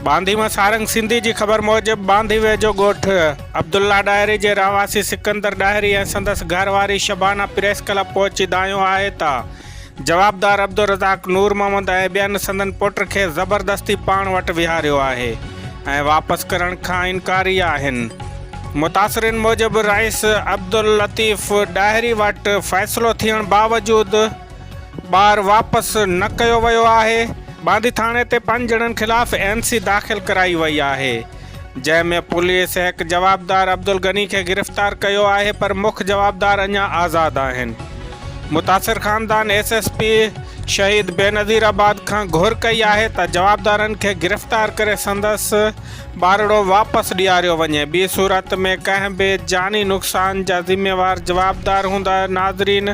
باندي مان سارنگ سنڌي جي خبر موجب باندي ويجهو ڳوٺ عبدالله ڏاهري جي رهواسي سڪندر ڏاهري ۽ سندس گهر واري شبانه پريس ڪلب پهچي دانهيو آهي ته جوابدار عبدالرزاق نور محمد ۽ ٻين سندن پٽ کي زبردستي پاڻ وٽ ويهاريو آهي ۽ واپس ڪرڻ کان انڪاري آهن. متاثرين موجب رئيس عبداللطيف ڏاهري وٽ فيصلو ٿيڻ باوجود ٻار واپس نه ڪيو ويو آهي. باندي ٿاڻي تي پنج ڄڻن خلاف اين سي داخل ڪرائي وئي آهي. جنهن ۾ پوليس هڪ جوابدار عبدالغني کي گرفتار ڪيو آهي پر مک جوابدار اڃا آزاد آهن. متاثر خاندان S S P Shaheed Benazir آباد کان گهر ڪئي آهي ته جوابدارن کي گرفتار ڪري سندس ٻارڙو واپس ڏياريو وڃي ٻي صورت ۾ ڪنهن به جاني نقصان جا ذميوار جوابدار هوندا ناظرين